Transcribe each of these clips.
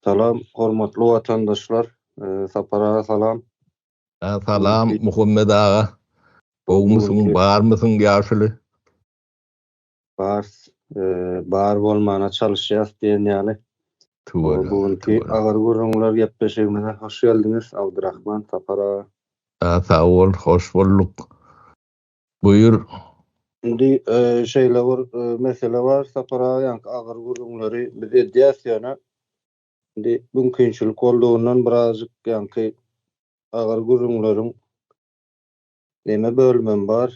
Salam, hormatly watandaşlar. Sapar aga salam. Salam, Muhammet aga. Gowmysyň, barmysyň ýaşuly? Bars, bar bolmana çalyşýas diýen ýaly. Bu günki agyr gürrüňler gepleşigimize hoş geldiňiz, Abdurahman, Sapar aga. Sag bol, hoş bolduk. Buýur. Indi şeýle bir mesele bar, Sapar aga ýaňky agyr gürrüňleri biz edýäs ýöne indi mümkinçilik boldugyndan birazjyk ýaňky agyr gürrüňleriň neme bölümem bar,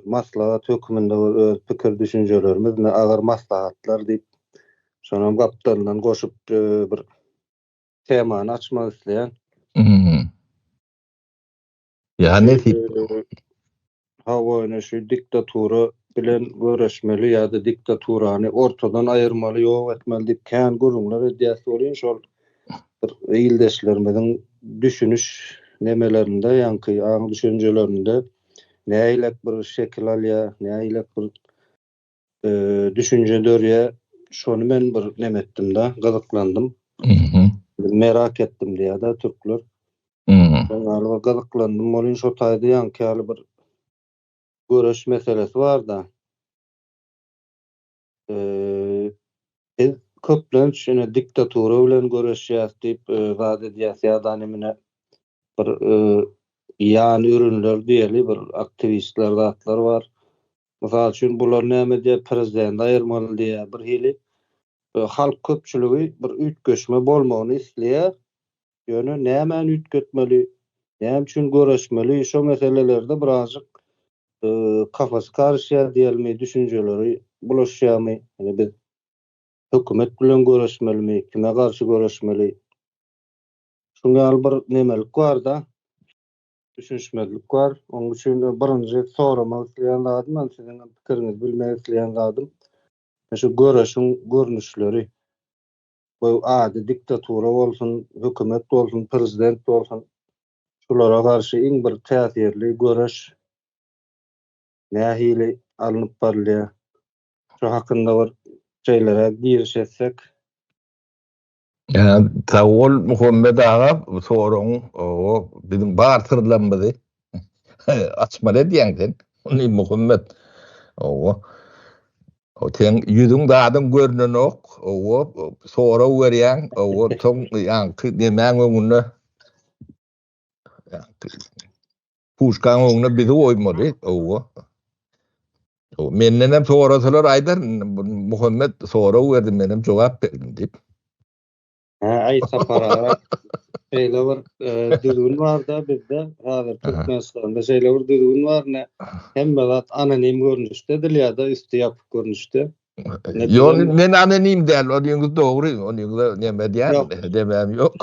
maslahat hökmünde bir öz pikir düşünjelerimiz ne agyr maslahatlar diýip şonam gapdalyndan goşup bir temany açmak isleýän. Ýa nesip. Hawa, şu diktatura bilen göreşmeli ýa-da diktaturany ortadan aýyrmaly, ýok etmeli diýip kän gürrüňler edýäs welin, şol bir ildeşlerimiziň düşüniş nemelerinde, ýaňky aň-düşünjelerinde nägilek bir şekil alýar, nägilek bir düşünje dörýä şony men bir nem etdimda gyzyklandym merak etdim diýada türkler şonda gyzyklandym bolin şo taýda ýaňky ýaly bir göreş meselesi barda biz köplenç şeýle diktatura bilen göreşýäs diýip zat edýäs ýa-da mine bir ýan ürünler diýeli bir aktiwistler zatlar bar Mysal üçin bular näme diýýär, prezidenti aýyrmaly diýýär. Bir hili halk köpçüligi bir üýtgeşme bolmagyny isleýär. Ýöne nämäni üýtgetmeli, näme üçin göreşmeli şo meselelerde birazjyk kafasy garyşýar diýelmi, düşünjeleri bulaşýarmy, ýöne biz hökümet bilen göreşmelimi, kime garşy göreşmeli? Şuňa ýaly bir nemelik bar-da. Düşünişmezlik bar. Onuň üçin birinji soramak isleýän zadym, men siziň pikiriňizi bilmek isleýän zadym, şu göreşiň görnüşleri, bu ady diktatura bolsun, hökümet bolsun, prezident bolsun, şulara garşy iň bir täsirli göreş nähili alnyp barylýar? Şu hakynda bir şeýleräk giriş etsek. Sag bol Muhammet aga, soragyň o biziň bar syrlarymyzy açmaly edýäň sen. Ony Muhammet. Owa. O sen ýüzüň zadyň görnenok. Owa, sorag berýäň. Owa, soň ýaňky nemäň öňünde Puşkan oňuna bizi oýmaly, owa. O menden hem sorasalar aýdar, Muhammed sora berdi, men hem jogap berdim diýip. Ha, aý sapar aga. Şeýle bir e, düzgün bar-da bizde, häzir Türkmenistanda şeýle bir düzgün bar, ne hemme zat anonim görnüşde edilýär-de, üsti ýapyk görnüşde. Ýöne men anonim däl, onyňyz dogry, onyňyza näme edýärin, demem ýok.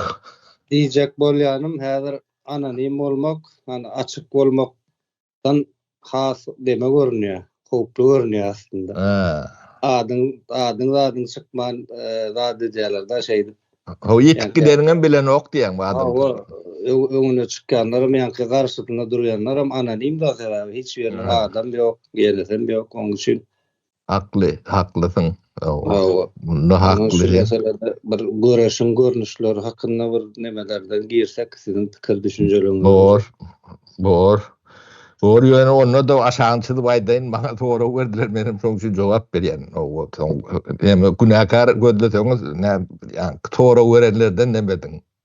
Diýjek bolýanym, häzir anonim bolmak, ýani açyk bolmakdan has deme görünýär, howply görünýär aslynda. Adyň, adyň zadyň çykman zat edýäler-de şeýdip. Hawa, ýitip gideniňem bilenok diýýäň bu adamlar. Hawa, öňüne çykýanlaram, ýaňky garşysynda durýanlaram anonim-de, sebäbi hiç ýeriniň adam ýok, ýerisem ýok, onuň üçin Hakly, haklysyň. Hawa. Munda hakly. Şu meselede bir göreşiň görnüşleri hakynda bir nemelerden girsek, siziň pikir düşünjeleriňiz. Bor. Bor. Bor ýöne onda-da aşagyny çyzyp aýdaýyn, maňa sorag berdiler, menem şoň üçin jogap berýän. Hawa, soň näme günäkär gözleseňiz, näme, ýa sorag berenlerden näme ediň?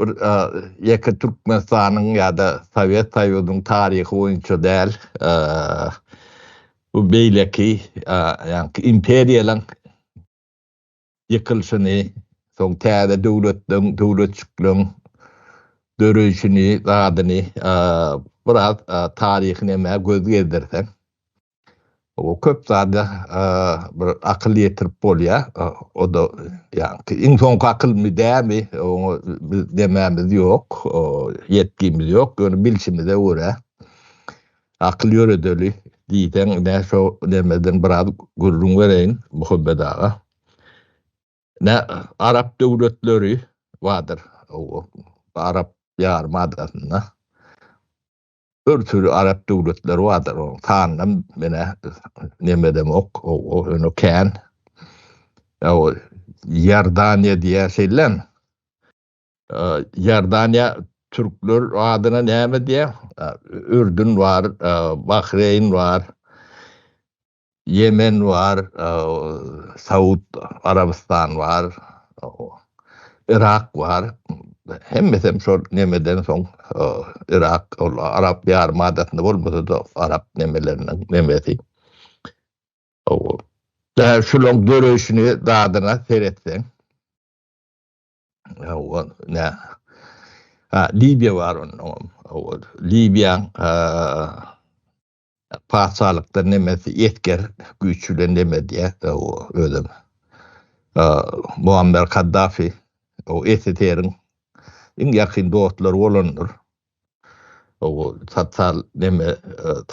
bir ýeke Türkmenistanyň ýa-da Sowet Soýuzynyň taryhy boýunça däl, bu beýleki ýaňky imperiýalaryň ýykylyşyny, soň täze döwletleriň, döwletjikleriň döreýşini, zadyny biraz taryhy nämä göz gezdirseň, O köp zada bir akyl ýetirip bolýar. O-da ýaňky iň soňky akylmy dämi, oňa biz demämiz ýok, ýetgimiz ýok. Ýöne bilşimize görä, akyl ýöredeli diýseň, ine, şo nemeden biraz gürrüň bereýin, Muhammet aga. Ine, arap döwletleri bardyr, arap ýarymadasynda. Örtüli arap döwletleri bardyr, onuň sanynam menä nemedemok, o öňe kän. Ýa o Ýordaniýa diýýä şeýlem. Ýordaniýa türkler adyna näme diýýä? Ürdün bar, Bahreýn bar. Ýemen bar, Saud Arabystan bar, Yrak bar. Hemmesem şol nemeden soň Yrak ol Arap ýarym adasynda bolmasa-da Arap nemeleriniň nemesi. Däl şulaň döreýşini dadyna seretseň. Hawa, nä. Libiýa bar onnoňam. Libiýaň Patyşalykda nemesi esger güýç bilen neme diýýär, özem Muammer Kaddafi SSR-iň iň ýakyn dostlary bolandyr. Sosial neme,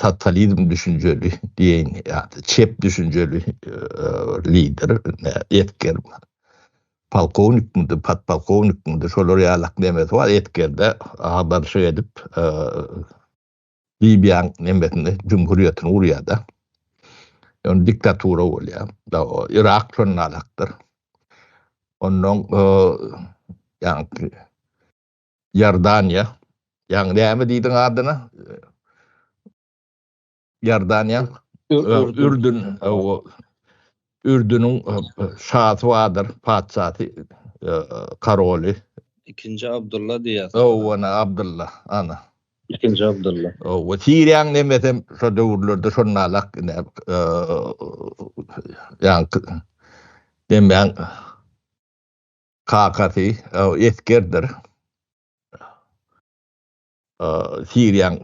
sosializm düşünjeli diýen ýa-da çep düşünjeli lider, esger, polkownikmidi, podpolkownikmidi, şolar ýalak nemesi bar, esgerde agdarlyşyk edip, Libiýaň nemesini jumhuriýetini gurýar-da. Ýöne diktatura bolýar. Yrak şondan arakdyr. Onnoň ýaňky Ýordaniýa, ýaňy näme diýdiň adyna? Ýordaniýa, Ürdün, Ürdüniň şasy bardyr, patyşasy, karoly. Ikinji Abdylla diýýär. Hawa, ana, Abdylla, ana. Ikinji Abdylla. Hawa, Siriýanyň nemesem şo döwürlerde şonalak ine, ýaňky nemäň kakasy, esgerdir. Siriýanyň.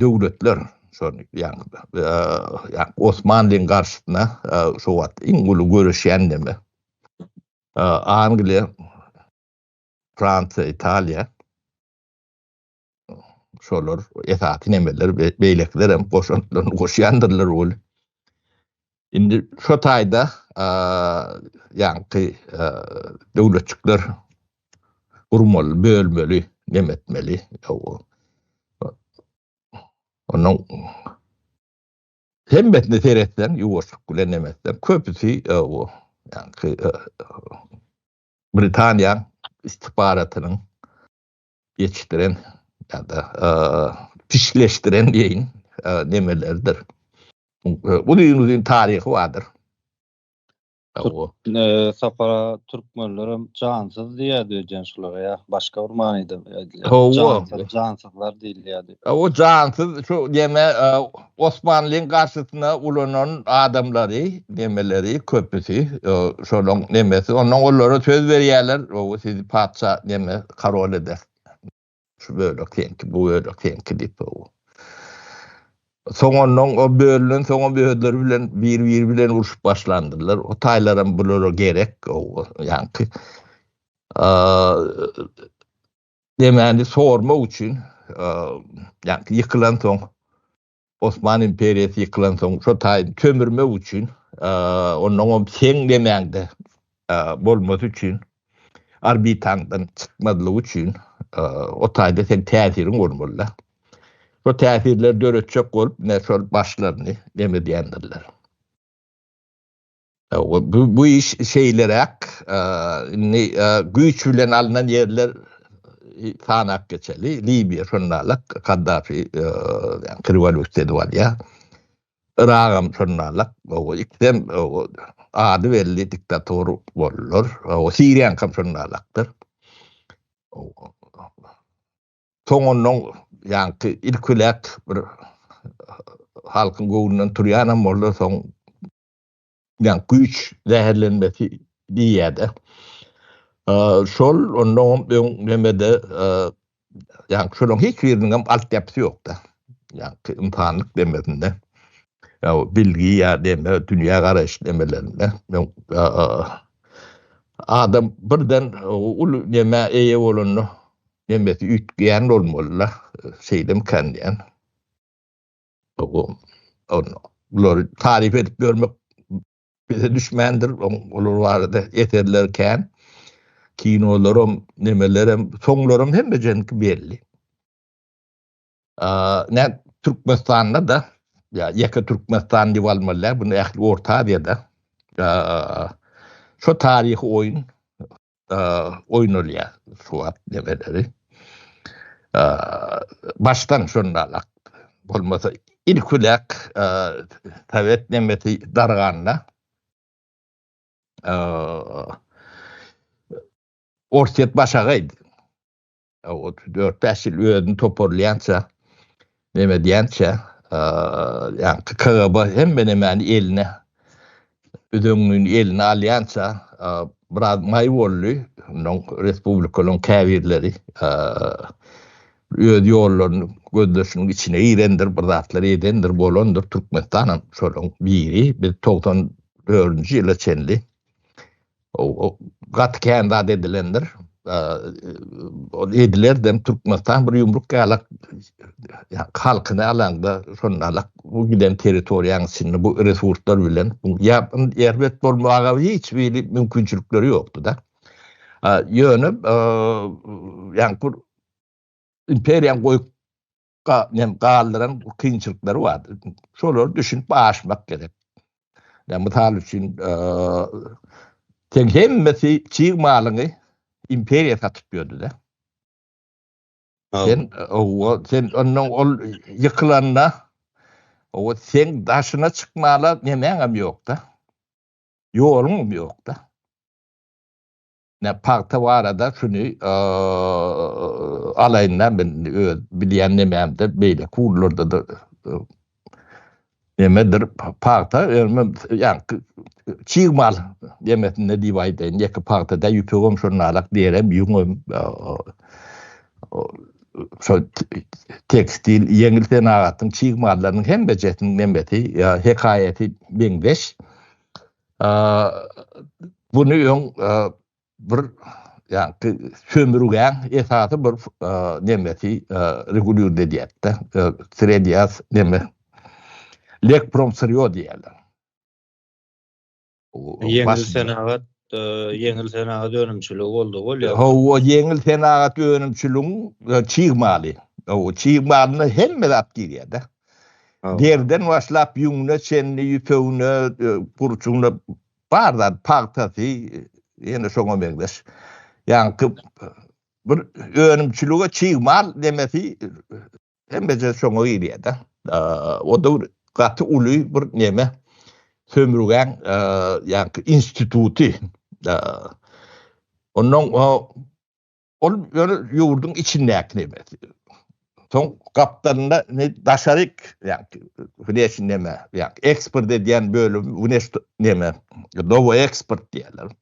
döwletler, şol ýa-da Osmanlyň garşysyna şo wagt iň uly göreşýän döwlet, Angliýa, Fransiýa, Italiýa, şolar esasy nemeler, beýlekiler hem goşantlaryny goşýandyrlar weli, Indi şu taýda ýaňky döwletçikler gurmaly, bölmeli, nemetmeli. Onuň hemmesini seretseň, ýuwaşlyk bilen nemetseň, köpüsi o, ýaňky Britaniýa istihbaratynyň ýetişdiren ýa-da pişleşdiren diýeýin nemeleridir. Uzyn-uzyn taryhy bardyr. Sapara türkmenlerem jansyz diýýärdi öýdýän şulara ýa başga bir manyda aýdylýar. Jansyzlar diýilýärdi. O jansyz şu diýme Osmanlyň garşysyna ulanan adamlary, nemeleri, köpüsi, şolaň nemesi, onnoň olara söz berýärler, gowy, sizi patyşa, neme, karol ederis. Şu bölek seňki, bu bölek seňki diýip. Soň onnoň o bölünen soň hem özleri bilen, bir-biri bilen urşup başlandylar. O taýlaram bulara gerek, gowy, ýaňky. Demani sormak üçin ýa-da ýykylan soň Osman imperiýasy ýykylan soň şo taýyny sömürmek üçin ondan hem seň demäňde bolmasy üçin orbitaňdan çykmazlygy üçin o taýda sen täsiriň bolmaly-da. Şo täsirleri döretjek bolup, ne şol başlaryny deme diýendirler. Bu iş şeýleräk, indi güýç bilen alnan ýerler sanap geçeli, Libiýa şonda-lar Kaddafi rewolýusiýa edip alýar. Yragam şonda-lar, ikisem ady belli diktator boldular. Siriýaňkam şonda-lardyr. Soňundan ýaňky ilkilek bir halkyň göwnünden turýanam boldy, soň Yani güýç zäherlenmesi diýýäde. Şol ondan öň nemede yani şolaryň hiç biriniň hem altyapysy ýokda. Yani ynsanlyk demesinde. Ya bilgi ya deme dünýä garaýyş demelerinde. Adam birden uly neme eýe bolanda nemesi üýtgeýän bolmalyda. Şeýdemkän diýen. Bulary taryp edip ýörmek bize düşmändir. Olar barada eserler kän. Kinolaram, nemelerem, soňlaram hemmejeňki belli. Nä Türkmenistanda-da, ýa ýeke Türkmenistan diýip almaly, bu ähli Orta Aziýada şo taryhy oýun oýnalýar swap nemeleri. Başdan şondalyk bolmasa ilkilek sowet nemesi darganda Orsýet başagaýdy. otuz dört bäş ýyl özüni toparlaýança neme edýänçä ýa KGB hemme nemäni eline üzeňňini eline alýança biraz maý boldy ondan respublikalaryň käbirleri öz ýollaryny gözleşigiň içine girendir bir zatlar edendir bolandyr Türkmenistan hem şolaryň biri biz togsan dördünji ýyla çenli Gaty kän zat edilendir. Ol edilerden Türkmenistan bir ýumruk ýalak halkyny alanda şonalak bu giden territoriýanyň içinde bu resurslar bilen ýa erbet bolmaga hiç bir mümkinçilikleri ýokdy-da. Ýöne ýa-da imperiýa goýup nem galdyran kynçylyklary bardy. Şolar düşünip aşmak gerek. Ya misal üçin sen hemmesi çig malyny imperiya satyp ýördi de. Sen o sen ondan ol ýykylanda o sen daşyna çykmala nemäňem ýok da. Ýoluňam ýok da. Ine pagta barada şuny alaýyn-da men öz bilýän nemämde beýleki ugurlarda-da nemedir pagta ýaňky çig mal nemesinde diýip aýdaýyn, ýeke pagtada ýüpegem şonalak, derem, ýüňem şol tekstil, ýeňil senagatyň çig mallarynyň hemmejesiniň nemesi, hekaýasy meňzeş. Muny öň bir ýa-da sömürgäň esasy bir nemesi regulýr edýärdi. Sredýas neme? Lekprom syrýo diýýärler. Ýeňil senagat, ýeňil senagat önümçiligi boldy ol ýa. Hawa, ýeňil senagat önümçiligiň çig maly. Hawa, çig malyna hemme zat girýär-de. Derden başlap ýüňüne çenli, ýüpegine, e, gurçugyna bar zat, pagtasy, ýene şoňa meňzeş. Ýaňky bir önümçilige çig mal demesi hemmeje şoňa girýär-de. O da gaty uly bir neme sömürgen e, ýaňky instituty. Ondan o Ol ýöne ýurduň içindäkini emes. Soň gapdalynda ne daşaryk, ýagny wneşni neme, ýagny eksport edýän bölüm wneş neme, dowo eksport diýerler.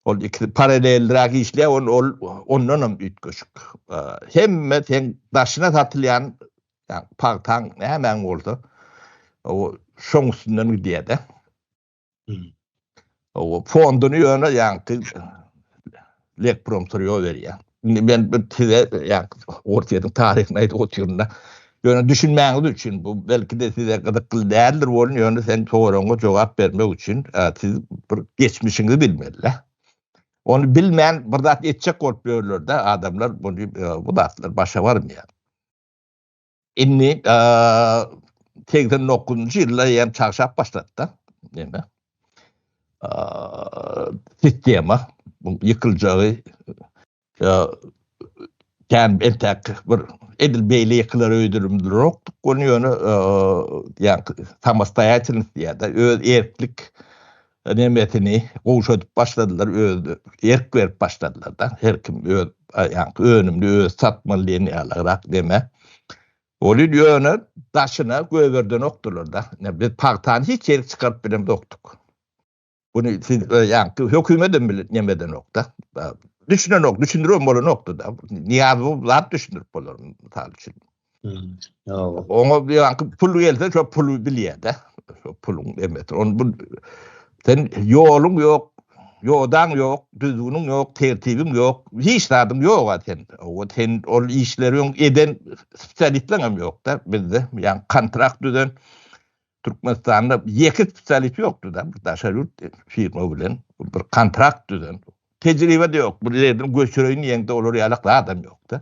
Ol ikisi paraleldiräk işleýär, ol ol ondan hem üýtgeşik. Hemme sen daşyna satylýan, ýagny pagtaň nämäň bolsa, o şoň üstünden gidýär-de. O fonduny ýöne ýaňky Lekprom turýo berýär. Indi men bir size ýaňky Ortiýadyň taryhyny aýdyp otyrynda ýöne düşünmäňiz üçin bu belki de size gyzykly däldir bolun ýöne sen soragyňa jogap bermek üçin siz bir geçmişiňizi bilmeli. Onu bilmän bir zat etjek bolup ýörlerde adamlar bunu bu zatlar başa barmaýar. Indi segsen dokuzynjy ýylda ýem çagşap başlady-da. Ýene. Sistema bu ýykyljagy ýa kän entäk bir edil beýle ýykylar öýdülmdirokdyk. Ony ýöne ýa samostoýatelnost diýýärdi. Öz erklik Nemesini gowşadyp başladylar öz erk berip başladylarda her kim öz aýaňky önümini özi satmaly diýen ýalyrak neme boldy ýöne daşyna gögerdenokdylarda ine biz pagtany hiç ýerik çykaryp bilemzokdyk buny siz aýaňky hökümetem bile neme edenokda düşünenok düşündiribem bolanokdyda niýazow zat düşündirip bolar mysal üçin Oňa bir ýanky pul gelse, şo pulu bilýär-de. Şo puluň emeti. Onu bu sen ýoluň ýok, ýodaň ýok, düzgüniň ýok, tertibiň ýok, hiç zadyň ýok-a sen. O sen ol işleri eden spesialistleň hem ýok-da bizde. Ýa kontrakt düzen Türkmenistanda ýeke spesialist ýokdy-da, bir daşary ýurt firma bilen bir kontrakt düzen. Tejribe-de ýok. Bir ýerden göçüreýin diýende olar ýalak adam ýok-da.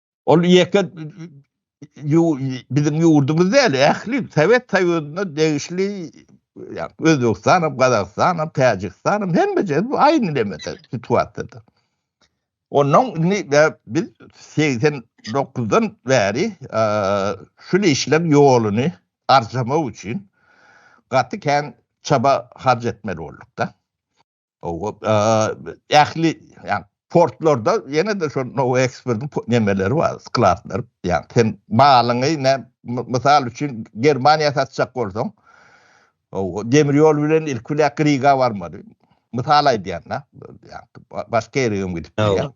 Ol ýeke biziň ýurdumyz däl, ähli Sowet Soýuzyna degişli ýagny Özbegistan hem, Gazagystan hem, Täjigistan hem hemme ýerde bu aýny neme situasiýadyr. Ondan indi biz 89-dan bäri şul işleň ýoluny arçamak üçin gaty kän çaba harç etmeli bolduk-da. Ähli portlarda ýene-de şol nowa eksportyň nemeleri bar, skladlary. Ýagny sen malyňy mysal üçin Germaniýa satjak bolsaň, demir ýol bilen ilki bilen Riga barmaly. Mysal aýdýan-da, başga ýere hem gidip bilýär.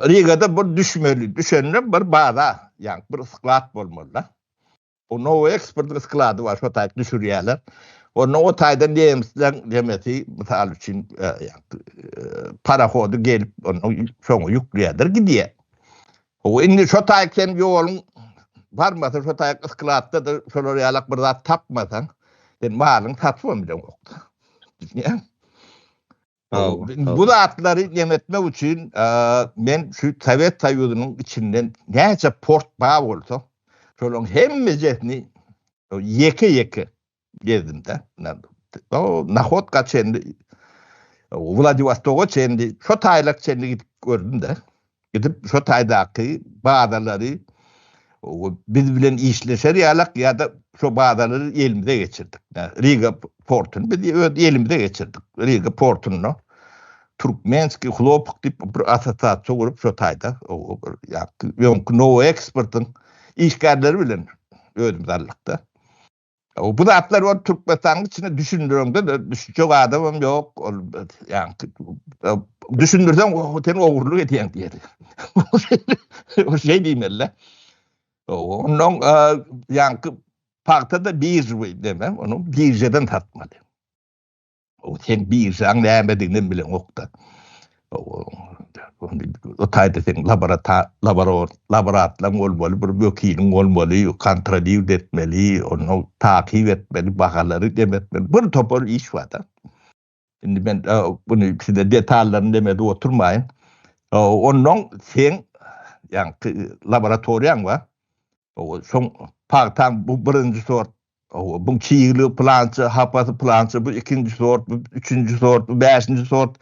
Rigada bir düşmeli, düşende bir baza, ýagny bir sklad bolmaly-da. Bu Nowy eksportyň sklady bar, şo taýda düşürýärler. Onda o taýdan nemisler demesi, mysal üçin, e, parahody gelip, onda şoňa ýükleýärler, gidýär. O indi şo taýda sen ýoluň barmasa, şo taýda skladda da şolar ýalak bir zat tapmasaň, sen malyň satyp bilen. Düşünýäňmi? Bu zatlary demetmek üçin men şu Sowet Soýuzynyň içinden näçe port bar bolsa, şolaryň hemmejesini ýeke-ýeke gezdim-de. Nahodka çenli, Wladiwostoga çenli, şu taýlak çenli gidip gördüm-de. Gidip şo taýdaky bazalary biz bilen işleşer ýalak ýa-da şo bazalary elimize geçirdik. Riga portuny biz öz elimize geçirdik. Riga portunda Türkmenski hlopok diýip bir assosiasiýa gurup şo taýda ýa-da Nowo eksportyň işgärleri bilen özümiz aldykda. Bu zatlar ol Türkmenistanyň içinde düşündireňde düşünjek adamam ýok. Ol ýa düşündirseň o sen ogurlyk edýäň diýer. O şeý diýmeli. Onuň ýa pagta da birji we deme, onuň birjeden satmaly. O sen birjaň nämedigini bileňokda. O taýda sen laborator, laborator, laboratlaň bolmaly, bir wekiliň bolmaly, kontrolýuwt etmeli, onu takyp etmeli, bahalary demetmeli, bir topar iş barda. Indi men bunu size detallaryny demedi oturmaýyn. Ondan sen ýaňky laboratoriýaň bar. Soň pagtaň bu birinji sort Hawa, buň çigligi pylança, hapasy pylança, bu ikinji sort, bu üçünji sort, bu bäşinji sort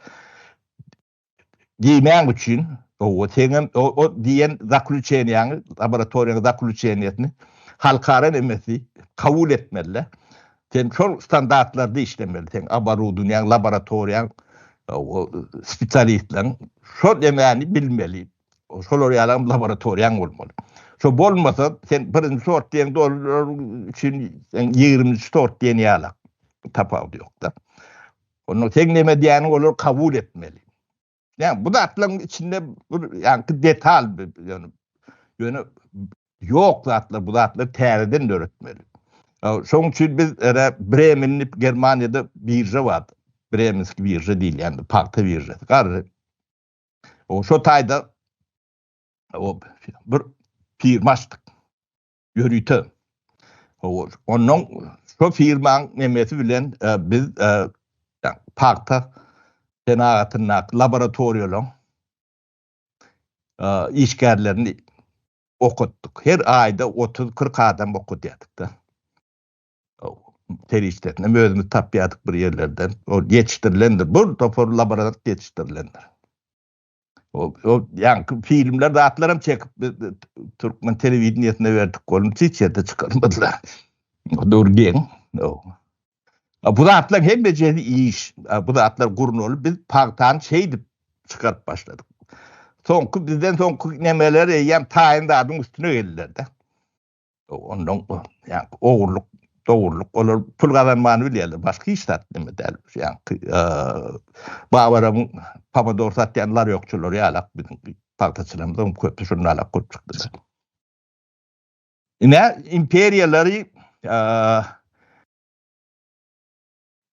diýmäň üçin, hawa, seňem o diýen zaklýuçeniýaňy, laboratoriýaň zaklýuçeniýasyny halkara nemesi kabul etmeli-de. Sen şol standartlarda işlemeli, seň oborudunýaň, laboratoriýaň, hawa, spesialistleň şol nemeni bilmeli. Şolar ýalam laboratoriýaň bolmaly. Şo bolmasa, sen birinji sort diýen dolar üçin sen ýigriminji sort diýen ýalak tapawudy ýok-da. Onda sen näme diýýäniňi olar kabul etmeli. Ýa bu zatlaryň içinde bir ýaňky detal ýöne ýöne ýok zatlar bu zatlar täzeden döretmeli. Şoň üçin biz ere Bremen diýip Germaniýada birža bar. Bremenski birža diýilýän pagta biržasy. Garry O şu taýda o bir firma açdyk. Ýörite. O ondan şu firmaň nemesi bilen e, biz e, pagta senagatyndaky laboratoriýalaryň e, işgärlerini okutdyk. Her aýda 30-40 adam okutýardyk da. serişdesinem özümiz tapýardyk bir ýerlerden. Ol ýetişdirilendir. Bu topar laborant ýetişdirilendir. O ýaňky filmler zatlaram çekip türkmen telewideniýesine berdik bolun hiç ýerde çykarmadylar. Dur geň. A bu zatlar hemmejesi iş. Bu zatlar gurnalyp biz pagtany şeýdip çykaryp başladyk. Soňky bizden soňky nemeler eýýäm taýyn zadyň üstüne geldiler-de. ondan yani oğurluk doğurluk olar pul kazanmanı bilýärler başka hiç zat neme däl yani e, babaramyň pomidor satýan laryokçylary ýalak biziň pagtaçylarymyzyň köpü şunda alak köp çykdylar ine imperiýalary e,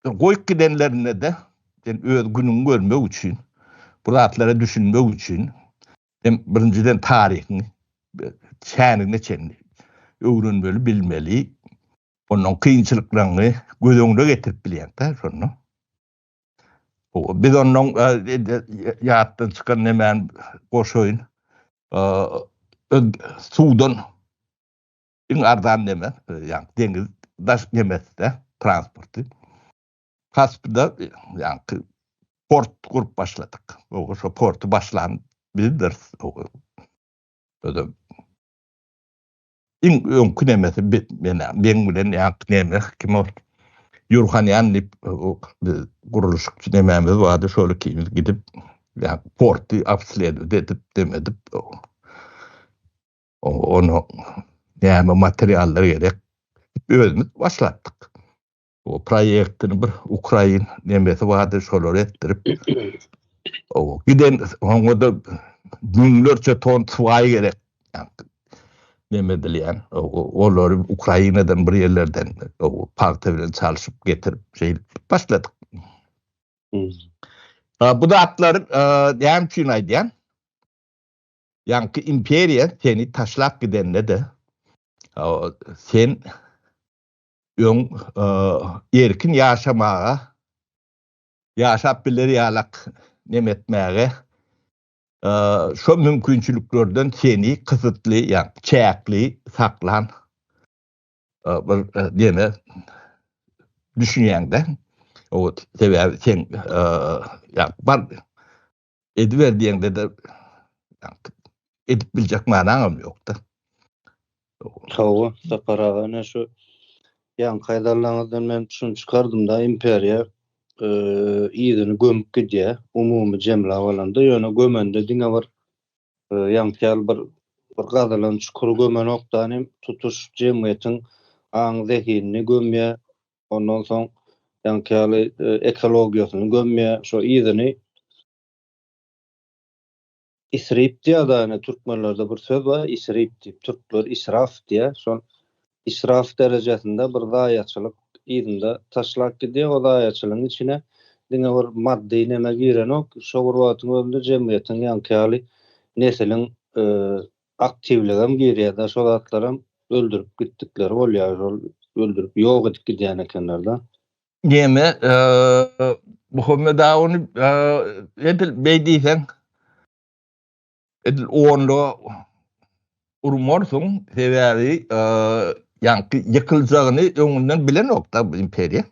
Goýup gidenlerinde-de, sen öz günüňi görmek üçin, bu zatlara düşünmek üçin, sen birinjiden taryhyň çänigine çenli öwrenmeli, bilmeli, onuň kynçylyklaryny göz öňüne getirip bilýäňdä şonda. Biz onuň ýatdan çykan nemäni goşaýyn, suwdan iň arzan nemes, ýagny deňiz daş nemesde transporty. Kaspda ýagny port gurup başladyk. Oňa şo porty başlan bizdiris. Özüm iň öňki nemesi men meň bilen ýagny nemes kim ol? Ýurhanýan diýip gurluşykçy nemämiz bardy, şol ikimiz gidip ýagny porty obsledowat edip, dem edip. Onuň näme materiallar gerek? Özümiz başlatdyk. O proýektiň bir ukrain nemesi bardy, şolary etdirip, giden oňa-da müňlerçe ton swaý gerek. Neme edilýän, olary Ukrainadan bir ýerlerden pagta bilen çalşyp getirip, şeýdip başladyk. Bu zatlar näme üçin aýdýan? Ýaňky imperiýa seni taşlap gidende-de, sen öň erkin ýaşamaga, ýaşap biler ýalak neme etmäge, şo mümkinçiliklerden seni kysytly, ýagny çäkli saklan bir neme düşünýäň-de. Sebäbi sen ýa bar Ediber diýeňde-de edip biljek manaňam ýok-da. Hawa, Sapar aga, ine şu ýaňky aýdanlaryňyzdan men şuny çykardym-da, imperiýa yzyny gömüp gidýär, umumy jemläp alanda, ýöne gömende diňe bir ýaňky ýaly bir gazylan çukury gömenokda, tutuş jemgyýetiň aň-zehinini gömýär, Ondan soň ýaňky ýaly e, ekologiýasyny gömýär, şo yzyny isrip diýýär da, ýöne türkmenlerde bir söz bar, isrip diýip, türkler israf diýýär. Şol israf derejesinde bir zaýaçylyk yzynda taşlap gidýär. O zaýaçylygyň içine diňe bir maddy neme girenok. Şo bir wagtyň özünde jemgyýetiň ýaňky ýaly nesiliň e, Aktiwligem girýärde şol zatlaram öldürip gitdikleri bolýar şol öldürip ýok edip gidýän ekenlerde. Neme Muhammet aga ony edil beý diýseň edil onda urmarsyň sebäbi ýaňky ýykyljagyny öňünden bilenokda bu imperiýa.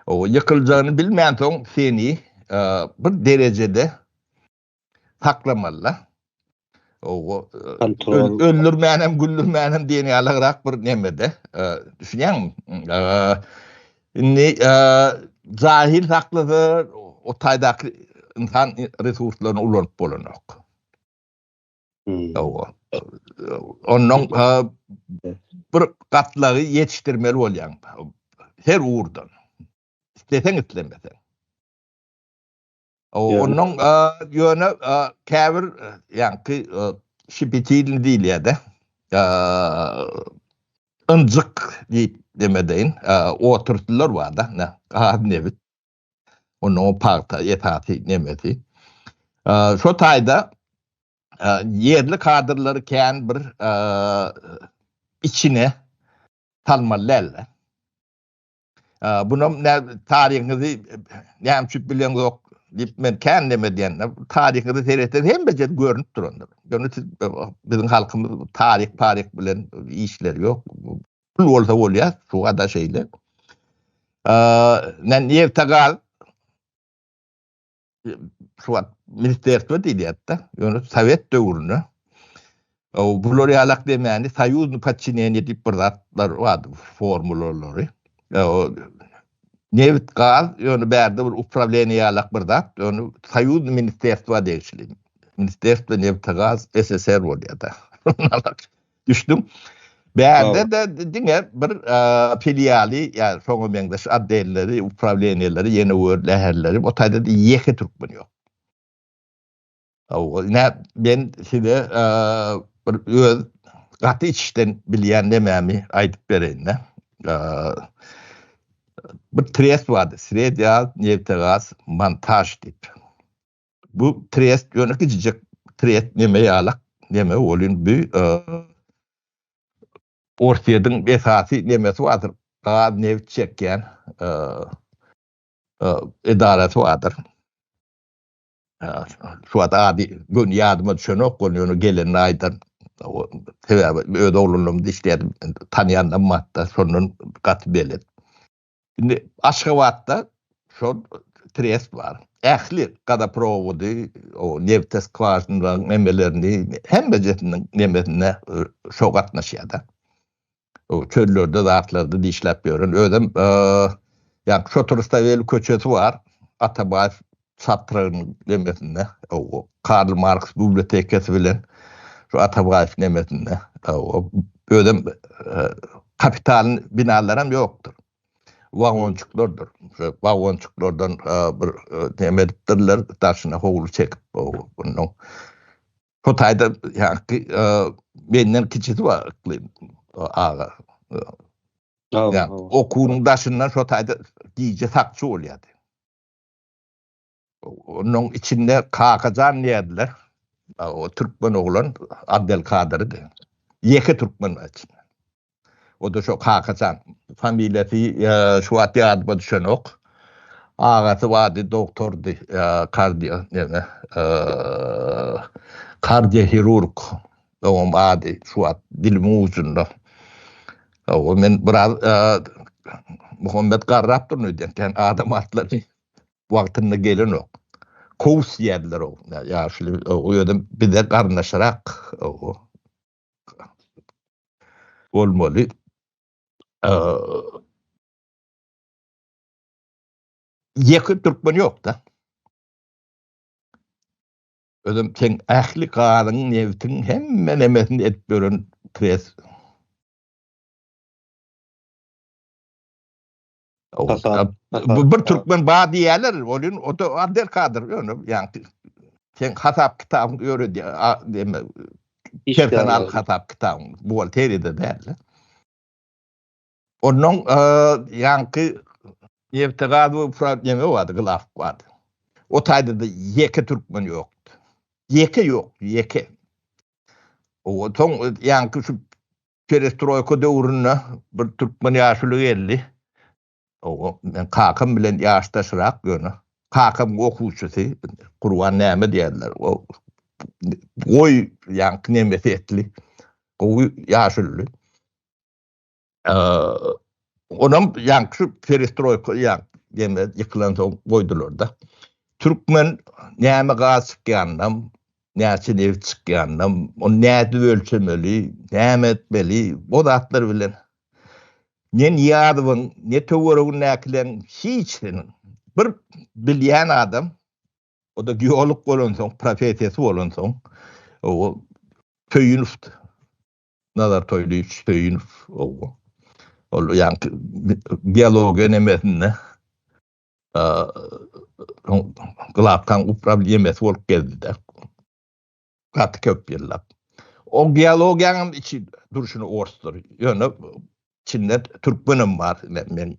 O ýykyljagyny bilmänsoň seni bir derejede saklamalyda. Owo öldürmänem, güldürmänem diýen ýalygrak bir nemede. Düşünýäňmi? Indi jahil saklasa, o taýdaky insan resurslaryny ulanyp bolanok. Owo. Ondan bir gatlagy ýetişdirmeli bolýaň. Her ugurdan. Isleseň, islemeseň. Onuň ýöne käbir ýaňky şipitilni diýilýär-de. Ynjyk diýip demedeýin, oturtdylar bar-da, ne, gaz, nebit. Onuň pagta esasy nemesi. Şo taýda ýerli kadrlary kän bir içine salmaly däldir. Bunam ne taryhyňyzy näme üçin bileňok diýip men kän näme diýende, taryhyňyzy seretseň hemme ýer görnüp durandyr. Ýöne siz biziň halkymyz taryh paryh bilen işleri ýok. Pul bolsa bolýar, şuwada şeýle. Aa, men ýertegaz şu wagt ministerstvo diýýärdi. Ýöne sowet döwründe o bular ýalak demände soýuzny podçineniýe diýip bir zatlar bardy formulalary. O nebit gaz ýöne bärde bir upravleniýe ýalak bir zat. Ýöne soýuz ministerstvo degişli. Ministerstvo nebit gaz SSR bolýardy. Düşdüm. Bärde de diňe bir filialy, ýa şoňa meňzeş otdelleri, uprawleniýeleri, ýene bir läherleri, o taýda da ýeke türkmen ýok. Hawa, ine men size bir öz gaty içden bilýän nemämi aýdyp bereýin-de. Bir trest bardy, Sredýa Neftegaz Montaj diýip. Bu trest ýöne kiçijek trest neme ýalak, neme ol indi Orsýetiň esasy nemesi bardyr, gaz, neft çekýän edarasy bardyr. Şu wagt ady göni ýadyma düşenok, ony ýöne gelenini aýdan. Sebäbi öz oglanlarymyz işleýärdi, tanýanlarym bardy, şondan gaty belet. Indi Aşgabatda şol trest bar. Ähli gazoprovody, o nebte skwažinalaryň nemelerini, hemmejesiniň nemesine şo gatnaşýar-da. O çöllerde zatlarda dişläp ýören, özem ýa-da şo trasda weli köçesi bar, Atabaýew Çatrygyn nemesinde, Karl Marks bibliotekasy bilen şu Atabaýew nemesinde, özem kapitalyň binalaram ýokdur. Wagonçyklardyr. Şo wagonçyklardan bir neme edipdirler, daşyna howly çekip bundan. Şo taýda ýaňky menden kiçisi bar Yklym aga. Okuwyň daşyndan şo taýda gije sakçy bolýardy. Onuň içinde Kakajan diýerdiler. O türkmen oglan Abdelkadirdi. Ýeke türkmen içinde. O da şo Kakajan. Familiýasy şu wagt ýadyma düşenok. Agasy bardy, doktordy, kardio neme, kardiohirurg. Oňam ady şu wagt dilimiň ujunda. Hawa, men biraz Muhammet garrap durun öýdýän, kän adam atlaryny wagtynda gelenok. Kowus diýerdiler o ýaşuly, o ýöne bize garyndaşyrak bolmaly. Ýeke türkmen ýok-da. Özem seň ähli gazyň, nebtiň hemme nemesini edip beren pres. Bu bir türkmen ba diýerler, olin o da ander kadyr ýöne ýaňky sen hasap kitabyň ýöredi deme. Kersen al hasap kitabyň. Bu ol teride däl. Onuň ýaňky nebte gaz we frak neme bardy, gylaf bardy. O taýda-da ýeke türkmen ýokdy. Ýeke ýok, ýeke. O soň ýaňky şu perestroýka döwründe bir türkmen ýaşuly geldi. O men kakam bilen ýaşdaşrak ýöne kakam okuwçysy Gurban näme diýerler. O goý ýaňky neme setli gowy ýaşuly. Onam ýan şu perestroýka ýan ýene ýykylan soň goýdular-da. Türkmen näme gaz çykýanynam, näçe neft çykýanynam, ony nädip ölçemeli, näme etmeli, bu zatlar bilen ne Niýazowyň, ne töweregindäkileriň hiç hiniň bir bilýän adam, o-da geolog bolan soň, professiýasy bolan soň, o köýünipdi. Nazar Toýlyýewiç Söýünow ogul. Ol ýaňky biologiýa nemesinde glabkaň uprawniýemesi bolup gezdi-de. Gaty köp ýyllap. O geologiýanyň içi durşuna orsdur. Ýöne Çinde türkmenem bar ile men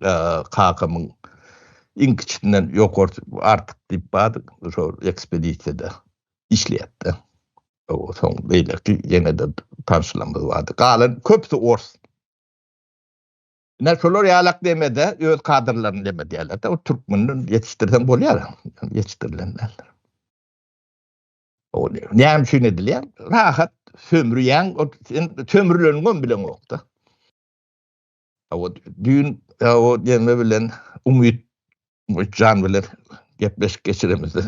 kakamyň iň kiçisinden ýokarsy artyk diýip bar şo ekspedisiýada işleýäpdi. O soň beýleki ýenede tanşlarymyz bardy. Galan köpüsi ors. Ine şolar ýalak demede öz kadrlaryny deme diýerlerde o türkmenden ýetişdirseň bolýar. Ýetişdirilenler. Näme üçin edilýär? Rahat sömürýän, sömürleniň hem bilen okda. O düýn o gelme bilen Umyt Umytjan bilen gepleşik geçiremizde.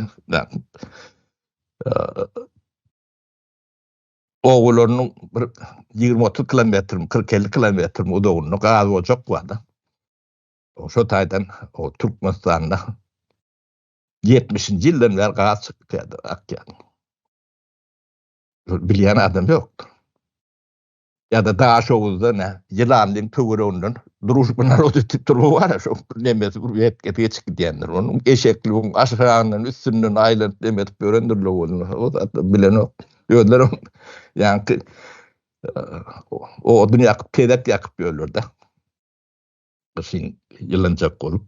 Ogularynyň bir 20-30 kilometr, 40-50 kilometr uzagynda gaz ocak bardy. Şo taýdan o Türkmenistanda ýetmişinji ýyldan bäri gaz çykyp ýatyr, akýar. Bilýän adam ýokdur. Ýa-da Daşoguzda nä, ýylanlyň töwereginden duruşyk bilen narod ötüp durma bar-a, şo nemesi bir wekesi geçip gidýändir. Onuň eşekligiň aşagyndan, üstünden aýlanyp neme edip ýörendir lowuzynda, o zatlar bilenok. Özlerem ýaňky odun ýakyp, tezek ýakyp ýörler-de. gyşyn ýylanjak bolup.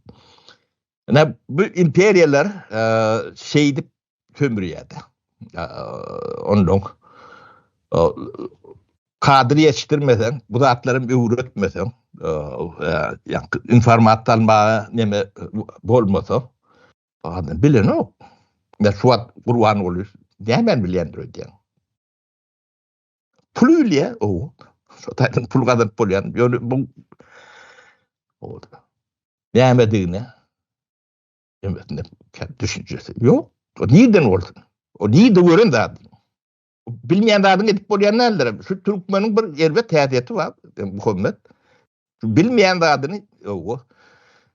Ine, bu imperiýalar şeýdip sömürýärdi. Ondan kadr ýetişdirmeseň, bu zatlary hem öwretmeseň, ýa-da informasiýa almaga neme bolmasa, adam bilenok. Men şu wagt Gurbanguly nämäni bilýändir öýdýän. Pul ülýä, o, şu taýdan pul gazanyp bolýan, ýöne bu nämedigine hemmetinde düşünjesi ýok. O nirden bolsun? O nirde gören zat? Bilmeýän zadyň edip bolýan däldir. Şu türkmeniň bir erbet häsiýeti bar, Muhammet. Bilmeýän zadyny, owa.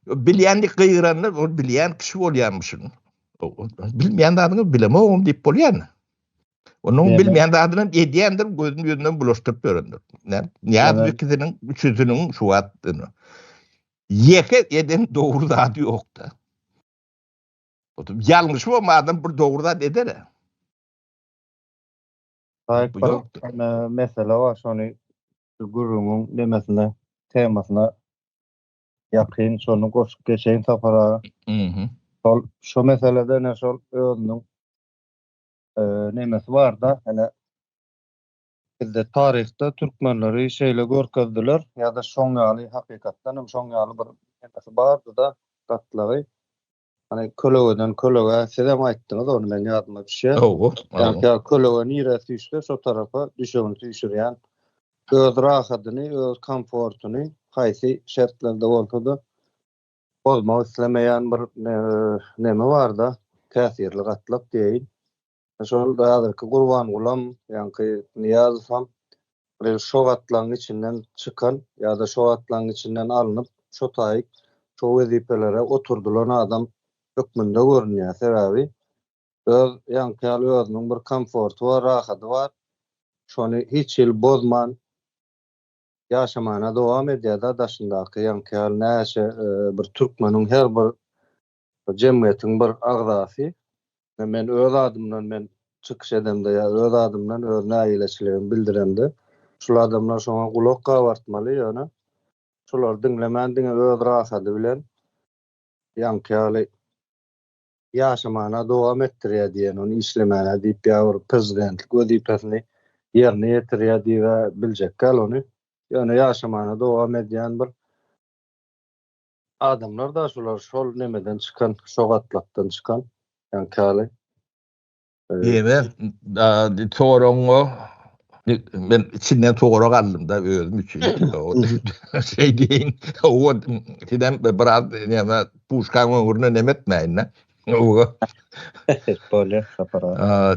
Bilýändik gygyranda, ol bilýän kişi bolýarmyşyn. Bilmeýän zadyny bilemogum diýip bolýarmy? Onuň bilmeýän zadyny edýändir, gözüni ýüzünden bulaşdyryp ýörendir. Näme? bu ikisiniň üçüsiniň şu wagt ýeke eden dogry zady ýokda. Otup ýalňyşy bor adam bir dogry zat eder. Aýyk bir mesele bar, şony Şu gürrüňiň nemesine, temasyna ýakyn şony goşup geçeýin Sapar aga. Mhm. Şol şu meselede ene şol özüniň eee nemesi barda ene bizde taryhda türkmenleri şeýle görkezdiler ýa-da şoň ýaly hakykatdan hem şoň ýaly bir nemesi bardyda gatlagy. Hani kölegeden kölege siz hem aýtdyňyz ony men ýadyma düşýär. Hawa. Ýa kölege nirä süýşse şo tarapa düşegini süýşürýän. Öz rahadyny, öz komfortuny haýsy şertlerde bolsa-da bozmak islemeýän bir neme bar-da, täsirli gatlak diýeýin. Şol häzirki Gurbangulam, ýaňky Nyýazowam bir şo gatlagyň içinden çykan ýa-da şo gatlagyň içinden alnyp, şo taýyk şo wezipelere oturdylan adam hökmünde görünýär. Sebäbi öz ýaňky ýaly özüniň bir komforty bar, rahady bar. Şony hiç hili bozman ýaşamana dowam edýär-de daşyndaky ýaňky ýaly näçe bir türkmeniň her bir Bu jemgyýetiň bir agzasy we men öz adymdan men çykyş edemde ýa öz adymdan öz nägileçiligimi bildiremde şul adamlar şoňa gulak gabartmaly ýöne şolary diňlemän diňe öz rasady bilen ýaňky ýaly ýaşamana dowam etdirýä diýen ony işlemäne diýip ýa bir prezidentlik wezipesini ýerine ýetirýä diýibä biljekgäl ony ýöne ýaşamana dowam edýän bir Adamlar da şular şol nemeden çykan şo gatlakdan çykan yani kali. Diyeme soran o men içinden soran galdım da özüm için. Şey deyin o sizden biraz yani puşkan ömrüne nem etmeyin de. Böyle kapara.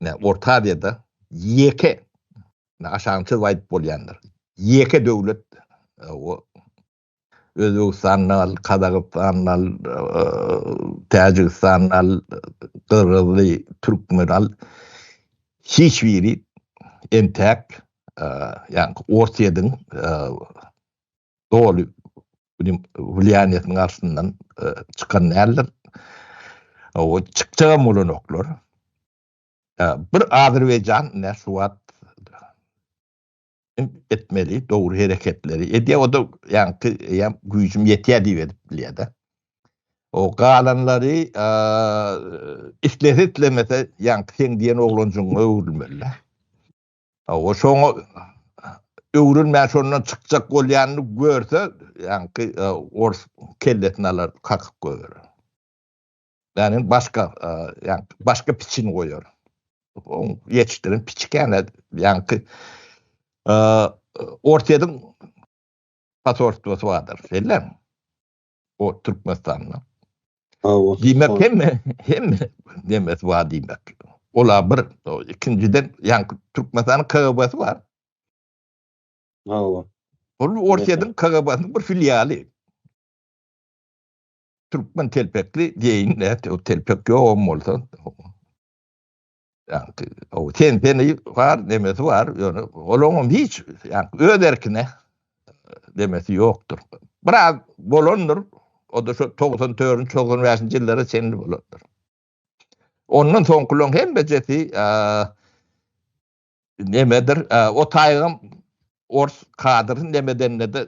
ne Orta Aziýada ýeke aşagyny çyzyp aýdyp bolýandyr. Ýeke döwlet o Özbegistan al, Kazagystan al, Täjigistan al, Gyrgyzly, Türkmen al. Hiç biri entäk ýa-ni Orsyýediň doly günüň wlýaniýesiniň garşysyndan çykan däldir. O çykjagam bolanoklar. Bir Azerbaýjan ine şu wagt etmeli dogry hereketleri edýär. O da ýaňky eýýam güýjüm ýetýär diýip edip bilýär-de. O galanlary islese-islemese ýaňky seň diýen oglanjygyňa öwrülmeli. Hawa, şoňa öwrülmän şondan çykjak bolýanyny görse, ýaňky ors kellesini alar, kakyp goýar. Ýani başga, ýaňky başga piçini goýar. Oň ýetişdiren piçikene, ýaňky orsýediň pasorstvosy bardyr, şeýlemi? o Türkmenistanda. Diýmek hemme, hemme nemes bar diýmek. Olar bir, ikinjiden, ýaňky Türkmenistanyň KGB-si bar. Hawa. Ol Orsýetiň KGB-siniň bir filialy. Türkmen telpekli diýeýin, näte o telpek ýogam bolsa. Ýagny o tenteni bar, nemesi bar, ýöne olaňam hiç ýagny öz erkine demesi ýokdur. Biraz bolandyr, o da şu 94-95-nji ýyllara çenli bolandyr. Ondan soňkulaň hemmejesi nemedir o taýygam ors kadryn nemedende-de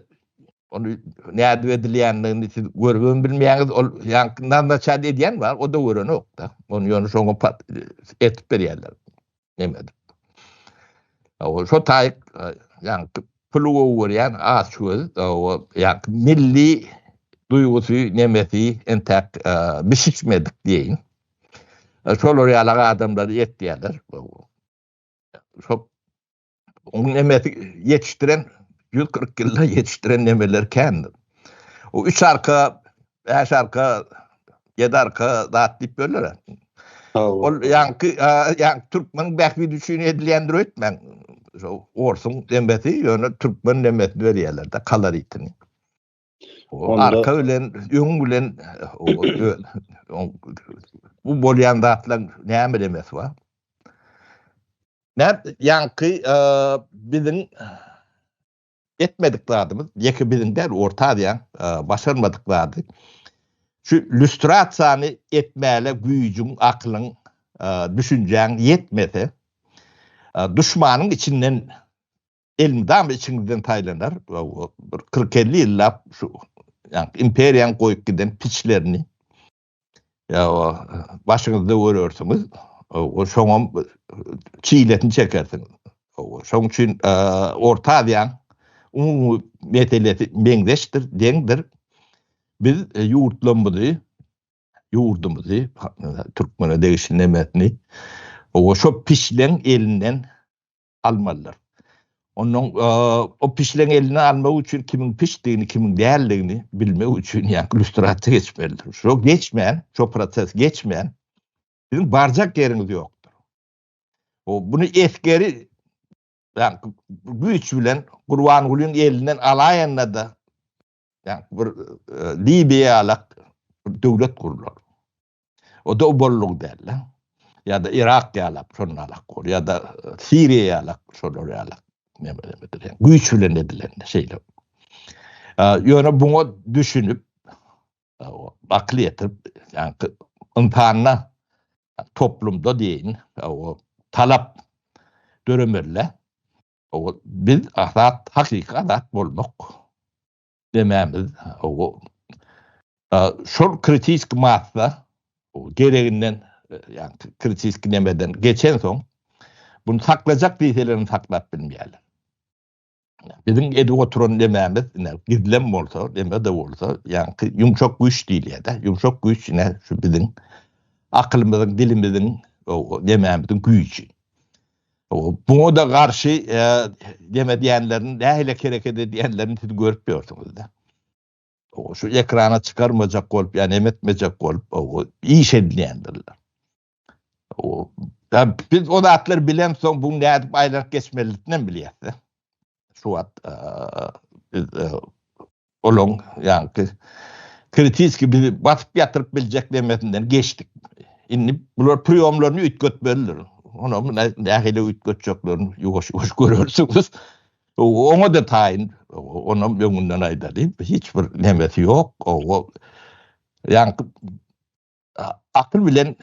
ony nädip edilýändigini siz görübem bilmeýäňiz ol ýaňky nazначat edýän bar o-da görenok-da ony ýöne şoňa pat etip berýärler nemedir o şo taýyk ýaňky puly gowy görýän aç göz o ýaňky milli duýgusy nemesi entäk bişişmedik diýeýin şolar ýaly adamlary etýärler şo onuň nemesi ýetişdiren 140 ýylda ýetişdiren nemeleri kändir. O üç arka, beş arka, ýedi arka zat diýip bölüler. Ol ýaňky ýaňky türkmeniň bähbidi üçin edilýändir öýtmäň. Şo orsuň nemesi ýöne türkmen nemesini berýärler-de kaloritini. Arka bilen, öň bilen bu bolýan zatlaryň näme demesi bar? Näme ýaňky biziň etmedik zadymyz, ýeke biziň däl, Orta Aziýaň başarmadyk zady. Şu lýustrasiýany etmäle güýjüň, aklyň, düşünjäň ýetmese, duşmanyň içinden elmydama içiňizden saýlanar we bir kyrk-elli ýyllap şu imperiýanyň goýup giden piçlerini başyňyzda görersiňiz, şoňam çilesini çekersiňiz. Şoň üçin Orta Aziýanyň umumy meselesi meňzeşdir, deňdir. Biz ýurtlarymyzy, ýurdumyzy, türkmene degişli nemesini şo piçleň elinden almalydyr. Ondan o pişleň eline almak üçin kimiň pişdigini, kimiň däldigini bilmek üçin ýa-da lustrasiýa geçmelidir. Şo geçmän, şo proses geçmän siziň barjak ýeriňiz ýokdur. O bunu esgeri ýa-da güýç bilen Gurbangulyň elinden alaýanda-da ýa-da bir Libiýa ýalak döwlet gurlar. O da obollygy däl-de. Ýa-da Irak ýalap, şondan alak bor. Ýa-da e, Siriýa ýalak, şolar ýalak. Güýç bilen edilen şeýle. Ýöne buňa düşünip, akyl ýetirip, ýa-da insanda, toplumda deýin, o talap döremelle, o biz azat, hakyky azat bolmak demämiz o şol kritiski massa gereginden ýa-da kritiski nemeden geçensoň bunu saklajak diýseler hem saklap bilmeýärler. Biziň edip oturan nemämiz, ine, gizlem bolsa, neme-de bolsa, ýaňky ýumşak güýç diýilýär-de, ýumşak güýç, ine, şu biziň aklymyzyň, dilimiziň, o nemämiziň güýji. Buňa-da garşy dem edýänlerini, nähili hereket edýänlerini siz görüp ýörsüňiz-dä. Şu ekrana çykarmajak bolup, ýa neme etmejek bolup, iş edýändirler. Biz o zatlar bilemsoň, bu nädip aýlanyp geçmelidiginem bilýäs-dä. şu wagt biz olaň ýaňky kritiski bizi basyp ýatyryp biljek demesinden geçdik. Indi bular priýomlaryny üýtgetmelidir. Ony muny nähili üýtgetjeklerini ýuwaş-ýuwaş görersiňiz. Oňa-da taýyn, onam öňünden aýdalyň, hiç bir nemesi ýok. Ýaňky akyl bilen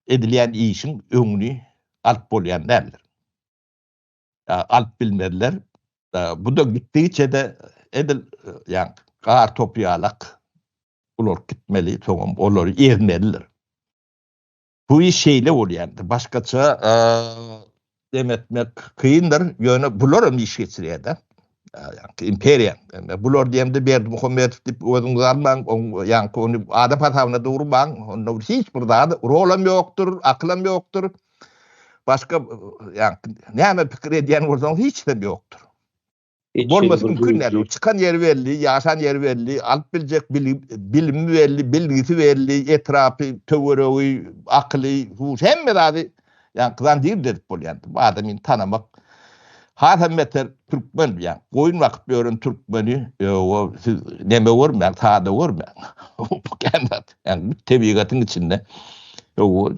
edilýän işiň öňüni alyp bolýan däldir. alyp bilmezler. Bu-da gitdigiçe-de edil ýa gar topy ýalak ular gitmeli, soňam olary ezmelidir. Bu iş şeýle bolýandy. Başgaça dem etmek kyndyr, ýöne bular hem iş geçirýär-de. Ýa-da imperiýa. Bular diýemde Berdimuhamedow diýip özüňizi almaň, ýa-da ony adam hasabyna durmaň, onda hiç bir zat, rol hem ýokdur, akyl hem ýokdur. Başga ýa-da näme pikir edýän bolsaňyz hiç zat ýokdur. Bolmasy mümkin däl. Çykan ýeri belli, ýaşan ýeri belli, alyp biljek bilimi belli, bilgisi belli, etrapy, töweregi, akyly, hemme zady ýa-da gyzan diýip edip bolýar. Bu adamy tanamak hasam beter türkmen diýýär. Goýun bakyp ýören türkmeni ýa-da siz näme görmäň, sada görmäň. Bu kän zat. Ýa-da tebigatyň içinde ýa-da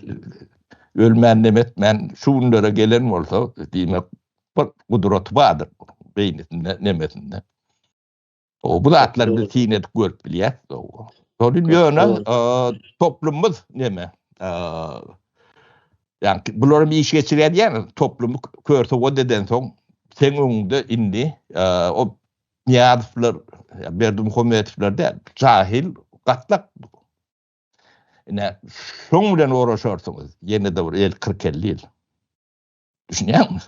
ölmän nem etmän şu günlere gelen bolsa diýmek bir gudraty bardyr beýnisinde nemesinde. O bu zatlar bir syn edip görüp bilýär. Şol ýöne toplumymyz neme? Yani bularym iş geçirýän ýaly toplumy körse o deden soň sen öňünde indi e, o Niýazowlar, Berdimuhamedowlar däl, jahil gatlak. Ine, şoň bilen oraşarsyňyz, ýene-de bir el 40-50 ýyl. Düşünýäňmi?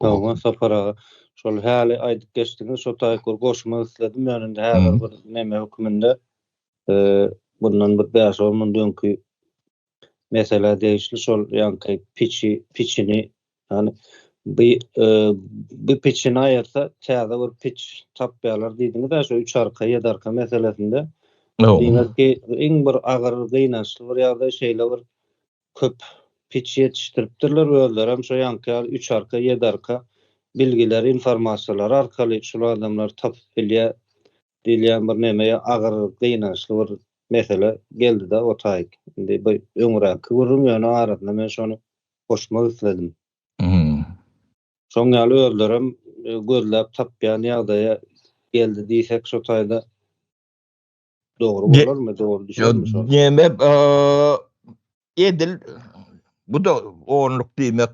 Sogma sapar aga. Şol häli aýdyp geçdiňiz, şo taýkur goşma isledim ýa indi häzir bir näme höküminde. Eee, bundan bir 5-10 ýyl öňki meselä degişli şol ýaňky piçi piçini ýany bi bi piçini aýyrsa täze bir piç tapýarlar diýdiňiz-ä şu üç arka ýedi arka meselesinde diňe ki iň bir agyr gynançly bir ýagdaý şeýle bir köp piç ýetişdiripdirler özlerem şo ýaňky ýaly üç arka ýedi arka bilgileri informasiýalary arkaly şul adamlary tapyp bilýär diýilýän bir neme ýa agyr gynançly bir mesele geldi-de o taýyk. Indi bu öňräkki gürrüň ýöne arasyna men şony goşmak isledim. Şoň ýaly özlerem gözläp tapýan ýagdaýa geldi diýsek şo taýda dogry bolarmy, dogry düşermi şo? Neme edil bu-da onluk diýmek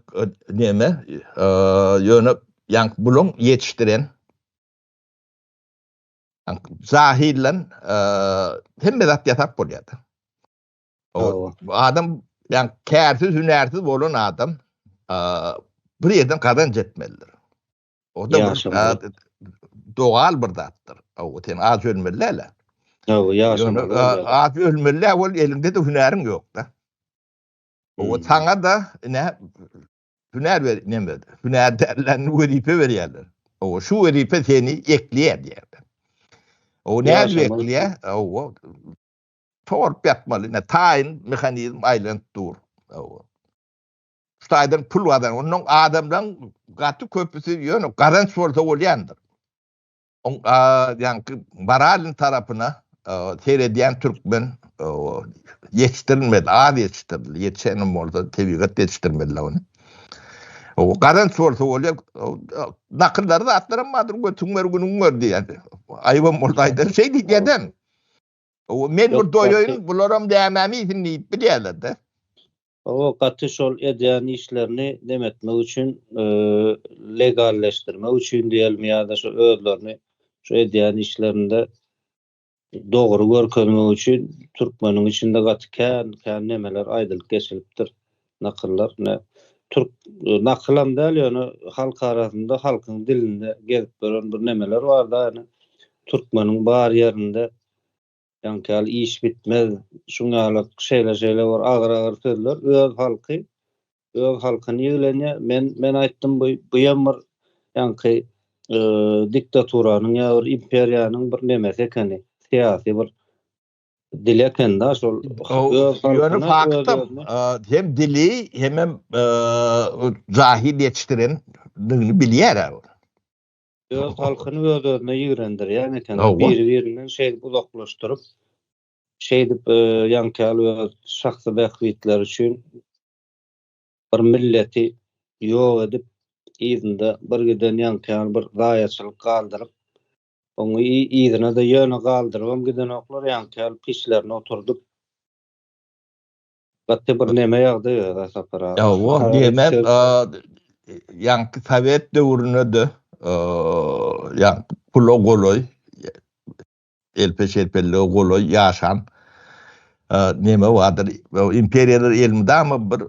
neme ýöne ýaňky bulaň ýetişdiren Jahillan hemme zat ýasap bolýardy. O adam ýa kärsiz, hünärsiz bolan adam bir ýerden gazanç etmelidir. O da dogal bir zatdyr. O sen az ölmeli däle. Ýa ýaşam. Az ölmeli ol elinde de hünäriň ýok da. O saňa da ne Hünär ber neme hünärdarlaryna wezipe berýärler. Owa şu wezipe seni ekleýär diýýärler. O nädip ekleýär? Owa torp ýatmaly, ne taýyn mehanizm aýlanyp dur. Owa. Şu taýdan pul gazan, onuň adamlaryň gaty köpüsi ýöne gazanç bolsa bolýandyr. Oň a ýaňky Baralin tarapyna seredýän türkmen ýetişdirilmedi, az ýetişdirildi. Ýetişenem bolsa tebigat ýetişdirmediler ony. O garan sorsa bolýar. Nakyllary zatlaram bardyr, götüň gör, günüň gör diýýärdi. Aýybam bolsa aýdan şey diýýärdi hem. O men Yok, bir doýaýyn, gaty- bularam dämämi iýsin diýip bilýärler-de. O gaty şol edýän işlerini neme etmek üçin, e, legalleşdirmek üçin diýelmi ýa-da şu özlerini şu edýän işlerinde dogry görkezmek üçin türkmeniň içinde gaty kän, kän nemeler aýdylyp geçilipdir. nakyllar ine türk nakylam däl ýöne halk arasynda halkyň dilinde gezip ýören bir nemeler bar da ine türkmeniň bar ýerinde ýaňky ýaly iş bitmez şuň ýaly şeýle şeýle bir agyr agyr sözler öz halky öz halkyny ýiglenýär men men aýtdym bu bu ýem bir ýaňky e, diktaturanyň ýa bir imperiýanyň bir nemesi ekeni syýasy bir dil ekende şol ýöne faktam hem dili hem hem jahil ýetişdiren digini bilýär ol öz halkyny öz özüne ýigrendirýän eken biri birinden şeýdip uzaklaşdyryp şeýdip ýaňkyýal öz şahsy bähbitleri üçin bir milleti ýok edip yzynda bir giden ýaňkyýal bir zaýaçylyk galdyryp Oňa yzyna-da ýöne galdyrybam gidenoklar, ýaňky ýaly pişlerini oturdyp. Gaty bir neme ýagdaý öz-ä Sapar aga. Hawa, diýemem, ýaňky sowet döwründe-de, ýaňky pula golaý, elpe-şelpelige golaý ýaşan neme bardyr, imperiýalar elmydama bir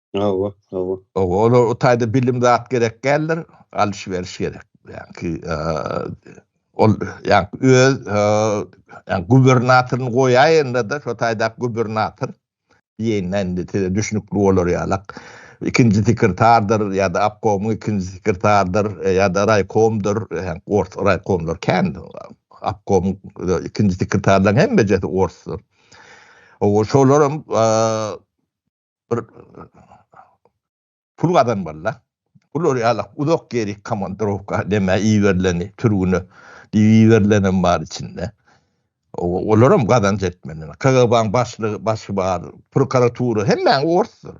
Hawa, hawa. Hawa, olar o taýda bilim zat gerek däldir, alyş-beriş gerek. Ýagny, ol ýagny öz ýagny gubernatoryny goýaýanda-da, şo taýda gubernator diýende indi size düşnükli bolar ýalak. Ikinji sekretardyr ýa-da obkomyň ikinji sekretardyr ýa-da raýkomdyr, ors raýkomlar kän. Obkomyň ikinji sekretarlaryň hemmejesi orsdur. Hawa, şolar hem bir pul gazanmaly-da. Bular ýaly uzak ýerik komandirowka näme iberileni türgüne diýip iberilenem bar içinde. Olaram gazanç etmeli. KGB-nyň başlygy, başy bar, prokuratura hemmäň orsdur.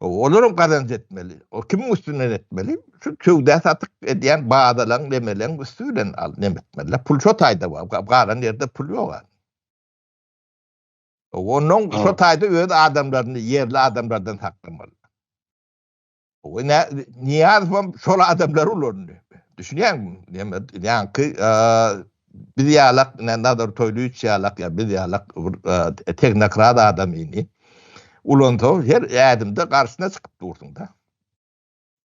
Olaram gazanç etmeli. O kimiň üstünden etmeli? Şu söwda-satyk edýän badalaň, nemeleň üsti bilen al, neme etmeli-de. Pul şo taýda bar. Galan ýerde pul ýog-a. Ondan şo taýda öz adamlaryny ýerli adamlardan saklamaly. O ne niýaz hem şol adamlar ulandy. Düşünýäňmi? Näme ýaňky biz ýalak ne nazar toýly üç ýalak ýa biz ýalak tehnokrat adam ini. Ulansa her ädimde garşyna çykyp dursun da.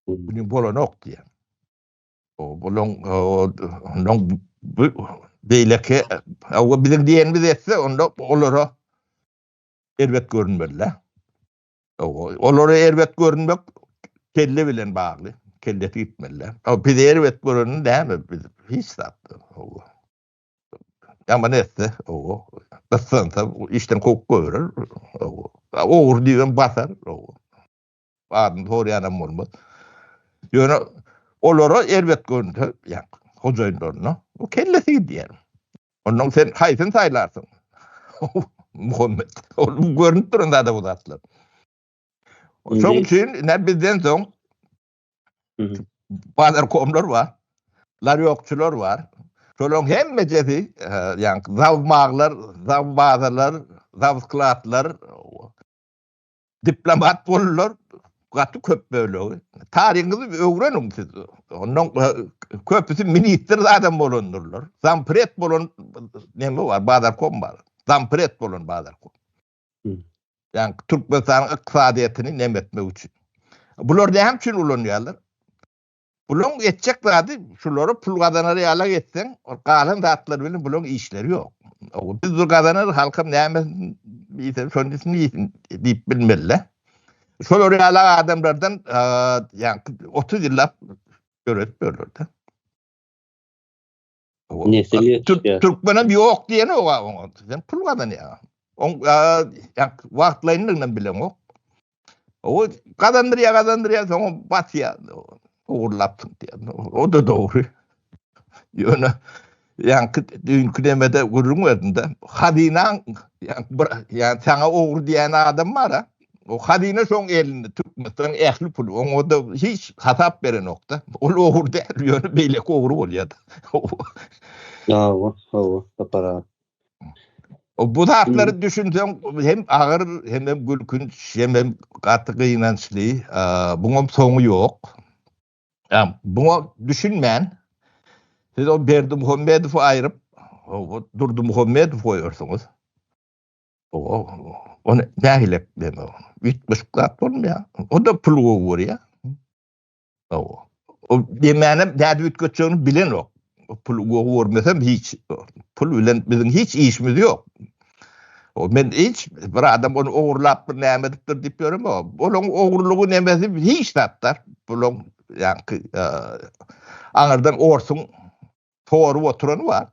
Bugün bolanok diýen. Onuň onuň beýleki owa biziň diýenimiz etse onda olara erbet görünmeli. Owa olara erbet görünmek kelle bilen bagly. Kelle gitmeli. Owa biz erbet göreni näme biz hiç zat. Owa. Ýaman etse owa. Gyssansa işden kowup goýberer. Owa. Ogur diýen basar. Owa. badyny soraýanam bolmaz. Ýöne olara erbet görünse, ýa hojaýynlaryna, o kellesi gidýär. Ondan sen haýsyny saýlarsyň? Muhammet. Ol görünip duran zada bu zatlar. Şoň üçin ne bizden soň bazar komlar bar. Lar ýokçular bar. Şolaryň hemmesi, ýa zawmaglar, zawbazalar, zawsklatlar, diplomat boldular, gaty köp bölegi. Taryňyzy öwreniň siz. Ondan köpüsi ministr adam bolandyrlar. Zampret bolan neme bar, bazarkom bar. Zampret bolan bazarkom. Yani Türkmenistanyň ykdysadyýetini nemetmek üçin. Bular näme üçin ulanýarlar? Bulaň etjek zady şulary pul gazanar ýalak etseň, ol galan zatlar bilen bulaň işleri ýok. Ow biz bir gazanar halkym näme diýse şony diýsin diýip bilmeli. Şolary ýalak adamlardan ýa 30 ýyllap döretip ýörler-de. Nesil ýetişýär. Türkmenem ýok diýen oga oňa. Sen pul gazanýar. On ýak wagtlaýynlygyny bilemok. O gazandyrýar, gazandyrýar, soňa batýar. Ogurlapdyk diýen. O da dogry. Ýöne ýaňky düýnki demede gürrüň berdim-de. Hazynaň ýa bir ýa saňa ogry diýen adam bar-a. O hazine şoň elinde Türkmenistan ähli pul. Oňa da hiç hasap beren okda. Ol ogur däl, ýöne beýle ogur bolýar. Hawa, hawa, tapara. O bu zatlar düşünseň hem agyr, hem hem gülkünç, hem hem gaty gynançly. Buňam soňy ýok. Ýa, buňa düşünmän siz o Berdi Muhammedowy aýryp, o Durdy Muhammedowy goýarsyňyz. Ony nägilek bilen ol. Üýtgeşik zat bolmaýar. O da pul gowy görýär. Hawa. O demänem nädip üýtgetjegini bilenok. O pul gowy görmesem hiç pul bilen biziň hiç işimiz ýok. O men hiç bir adam ony ogurlapdyr, näme edipdir diýip ýörem. Olaň ogurlygy nemesi hiç zatlar. Bulaň ýaňky aňyrdan orsuň sorup oturany bar.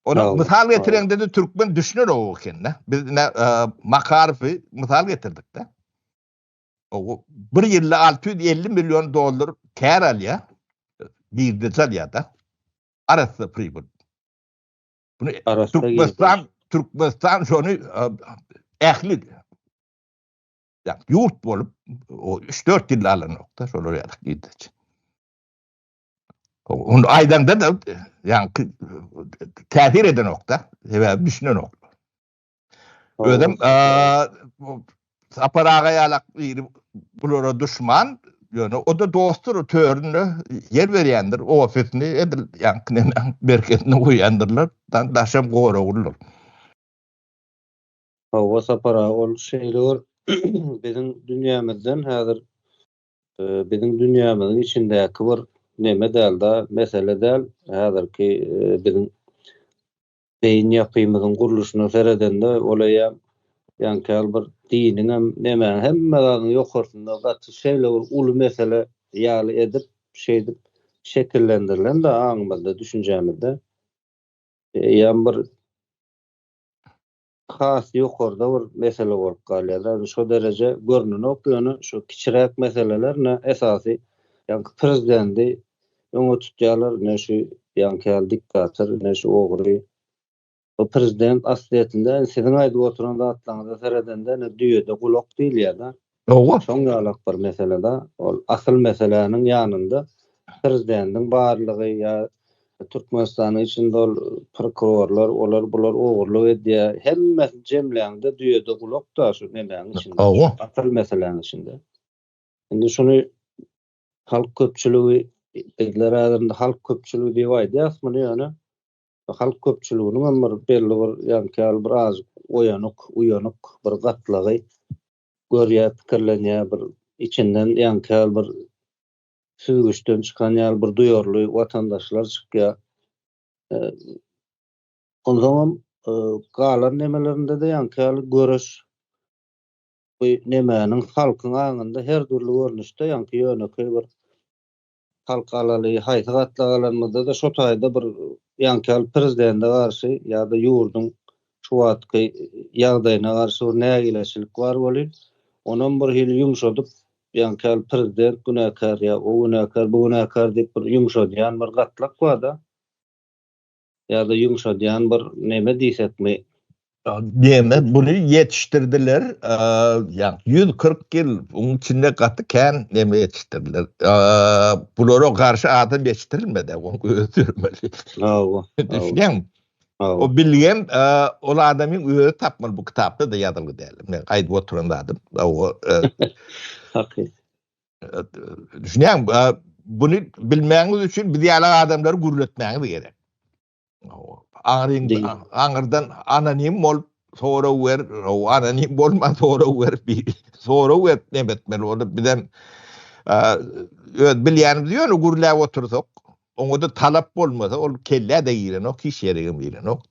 Ony mysal getireňde-de türkmen düşüner o ekende. Biz ine e, Makarowy mysal getirdik-de. O bir ýylda 650 million dollar kär alýar. Birdeje alýar-da. Arassa pribyl. Bunu Türkmenistan, Türkmenistan şonu e, ähli ýurt bolup o 3-4 ýylda alanokda şolar ýaly gidýär. Onu aýdanda da yani täsir eden okda sebäbi düşünen ok. Özüm Sapar aga ýalak biri bulara düşman ýöne o da dostdur töründe ýer berýändir ofisini edil ýaňkyny berketini goýýandyrlar daşam goraglydyr. Hawa Sapar aga ol şeýle bir biziň dünýämizden häzir Biziň dünýämiziň içindäki bir neme däl-de, mesele däl. Häzirki biziň beýin ýapymyzyň gurluşyna seredende, ol eýýäm ýaňky bir diniňem, nemäň, hemme zadyň ýokarsynda gaty şeýle bir uly mesele ýaly edip, şeýdip şekillendirilen-de aňymyzda, düşünjämizde. Eýýäm bir has ýokarda bir mesele bolup galýar da indi şo dereje görnenok ýöne şu kiçiräk meseleler ne esasy ýaňky prezidendi öňe tutýarlar ne şu ýaňky ýaly diktator ne şu ogry bu prezident aslyýetinde siziň aýdyp oturan zatlaryňyza seredende ne düýede gulak diýilýär da Hawa. Şoň ýalak bir mesele-da, ol asyl meseläniň ýanynda Prezdendiň barlygy ýa Türkmenistanyň içinde ol prokurorlar, olar bular ogurlyk edýär, hemmesini jemläňde düýede gulak-da şu nemäň içinde. Hawa. Asyl meseläň içinde. Indi şuny halk köpçüligi, bizler häzir indi halk köpçüligi diýip aýdýas muny ýöne halk köpçüliginiňem bir belli bir ýaňky ýaly bir az oýanyk, uýanyk bir gatlagy Görýär, pikirlenýär, bir içinden ýaňky bir süzgüçden çykan ýaly bir duýarly watandaşlar çykýar. Onsoňam galan nemelerinde-de ýaňky ýaly göreş bu nemäniň halkyň aňynda her dürli görnüşde ýaňky ýönekeý bir Halk alaly haýsy gatlagy alanymyzda-da şo taýda bir ýaňky ýaly prezidende garşy ýa-da ýurduň şu wagtky ýagdaýyna garşy bir nägileçilik bar welin, onam bir hili ýumşadyp, ýaňky ýaly prezident günäkär ýa o günäkär, bu günäkär diýip bir ýumşadýan bir gatlak bar-da. Ýa-da ýumşadýan bir neme diýsekmi? Neme buny ýetişdirdiler, ýa ýüz kyrk ýyl onuň içinde gaty kän neme ýetişdirdiler. Bulara garşy adam ýetişdirilmedi, oň özi döremeli. Hawa. Düşünýäňmi? Hawa. O bilgem ol adamyň özi tapmaly bu kitapda-da ýazylgy däl. Men aýdyp oturan zadym. Hakyt. Düşünýäň, buny bilmäňiz üçin biz ýaly adamlary gürletmäňiz gerek. Aňryň aňyrdan anonim bolup sorag wer, anonim bolman sorag wer, sorag wer näme etmeli bolup bizem öz bilýänimiz ýöne gürläp otursak, oňa da talap bolmasa, ol kellä-de girenok, hiç ýere-de girenok.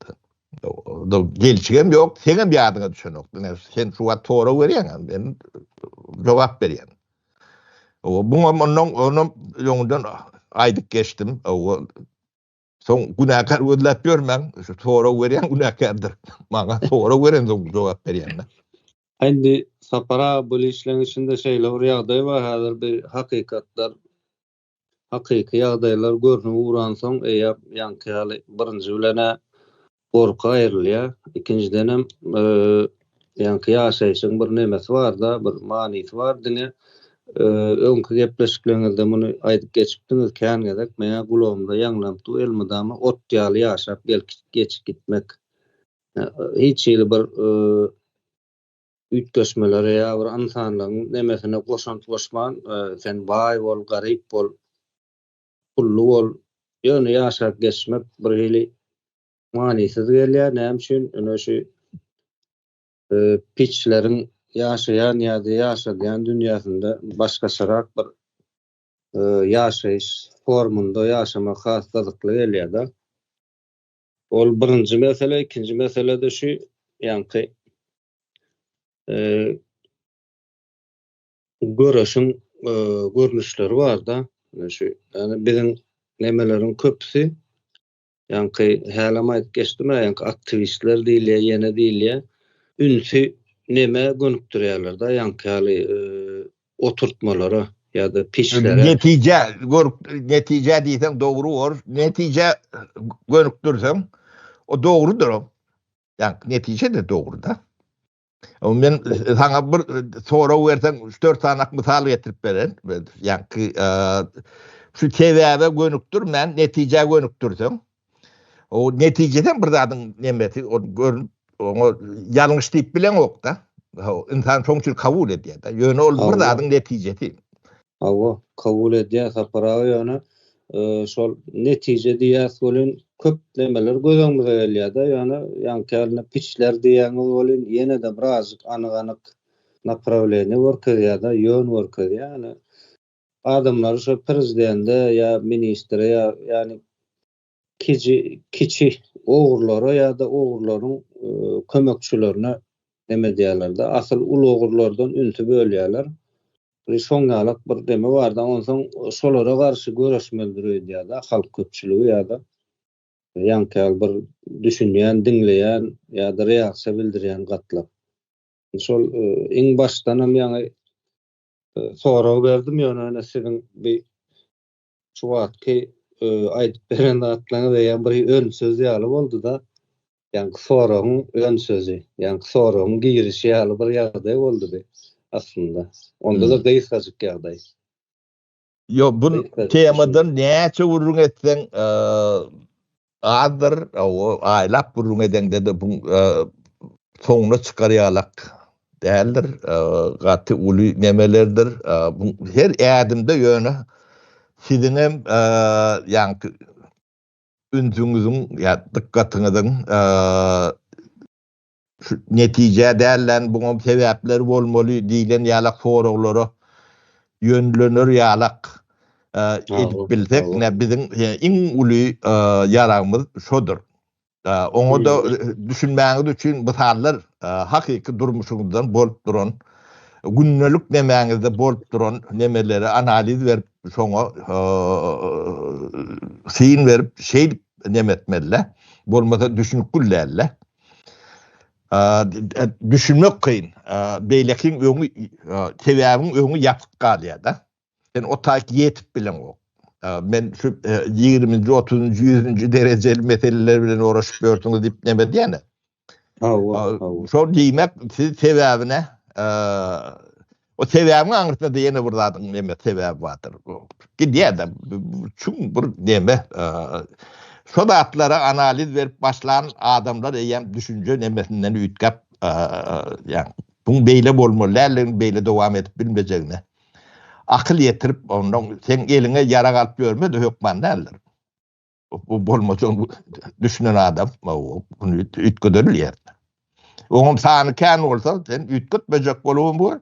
Gelşigem ýok, seňem ýadyňa düşenok. Diňe sen şu wagt sorag berýäň, men jogap berýän. Owa, muňam ondan onam öňden aýdyp geçdim. Owa. Soň günäkär gözläp ýörmäň, şu sorag berýän günäkärdir. Maňa sorag beren soň jogap berýän. Indi Sapar aga bu işleň içinde şeýle bir ýagdaý bar, häzir bir hakykatlar hakyky ýagdaýlar görnüp ugransoň, eýýäm ýaňky ýaly birinji bilen-ä gorky aýrylýar. Ikinjidenem, ýaňky ýaşaýşyň bir nemesi bar-da, bir manysy bar. Diňe öňki gepleşikleriňizde muny aýdyp geçipdiňiz, kän gezek meň-ä gulagymda ýaňlanyp dur, elmydama ot ýaly ýaşap gelip-geçip gitmek. Hiç hili bir üýtgeşmelere ýa bir ynsanlygyň nemesine goşant goşman, sen baý bol, garyp bol, pully bol, ýöne ýaşap geçmek bir hili manysyz gelýär. Näme üçin? Ine şu piçleriň ýaşaýan ýa-da ýaşadýan dünýäsinde başgaçarak bir ýaşaýyş formunda ýaşamak has gyzykly gelýär-de. Ol birinji mesele, ikinji meselede şu ýaňky göreşiň görnüşleri barda, şu ýani biziň nemeleriň köpüsi ýaňky hälem aýdyp geçdim, ýaňky aktiwistler diýilýä, ýene diýilýä, ünsi nemä gönükdirýärler-de, ýaňky ýaly oturtmalara ýa-da peçlere. Netije görk netije diýseň dogry bolar. Netije gönükdirseň o dogrudyr o. Ýa netije de dogry da. O men saňa bir sorag berseň üç dört sany mysal getirip beren. Ýa ki şu sebäbe gönükdirmän netije gönükdirseň. O netijeden bir zadyň nemesi o görün oňa ýalňyş diýip bileňokda. Insan şoň üçin kabul edýär-de. Ýöne ol bir zadyň netijesi. Hawa, kabul edýär Sapar aga ýöne şol netije diýýäs welin köp nemeler göz öňümize gelýär-de, ýöne ýaňkylda piçler diýýäňiz welin ýene-de birazjyk anyk-anyk naprawleniýe görkezýär-de, ýön görkezýär. Adamlary şo prezidende ýa ministre ýa ýani kiji kiçi ogurlara ýa-da ogurlaryň kömekçilerine neme edýärlerde asyl uly ogurlardan ünsi bölýärler. Bir şoň ýalak bir neme barda onsoň şolara garşy göreşmelidir öýdýärde halk köpçüligi ýa-da ýaňky ýaly bir düşünýän diňleýän ýa-da reaksiýa bildirýän gatlar. Şol iň başdanam ýaňy sorag berdim ýöne ene siziň bi şu wagtky aýdyp beren zatlaryňyz eýýäm bir ön söz ýaly boldy-da ýaňky soragyň ön sözi ýaňky soragyň girişi ýaly bir ýagdaý boldy bi aslynda onda-da gysgajyk ýagdaý Yo bu temadan näçe gürrüň etseň azdyr. O aýlap gürrüň edeňde de bu soňuna çykarýalak däldir. Gaty uly nemelerdir. Bu her ädimde ýöne siziň hem ýaňy ünsüňiziň ýa dykgatyňyzyň netijä däl-dän buňam sebäpler bolmaly diýlen ýalak soraglara ýönlener ýalak edip bilsek ine biziň iň uly ýaragymyz şodur. Oňa-da düşünmäňiz üçin mysallar hakyky durmuşyňyzdan bolup duran, gündelik nemäňizde bolup duran nemeleri analiz berip şoňa syn berip şeýdip neme etmeli-le, bolmasa düşünip gül däl-le. Düşünmek kyn. Beýlekiň öňi, sebäbiň öňi ýapyk galýar-da. Sen o taýt ýetip bileňok. Men şu ýigriminji, otuzynjy, ýüzünji derejeli meseleler bilen oraşyp ýörsüňiz diýip neme edýän-ä? Hawa, hawa. Şol diýmek, siz sebäbine O sebäbiň aňyrsynda ýene bir zadyň näme sebäbi bardyr. Gidýär-de çuň bir näme şo zatlara analiz berip başlan adamlar eýýäm düşünje nämesinden üýtgäp, ýagny bu beýle bolmaly däldigini, beýle dowam edip bilmejegini akyl ýetirip, ondan sen eliňe ýarag alyp ýörme-de hökman däldir. bu bolmasa düşünen adam bu ütgederil yer. Oňum sany kän bolsa sen ütgetmejek bolum bu.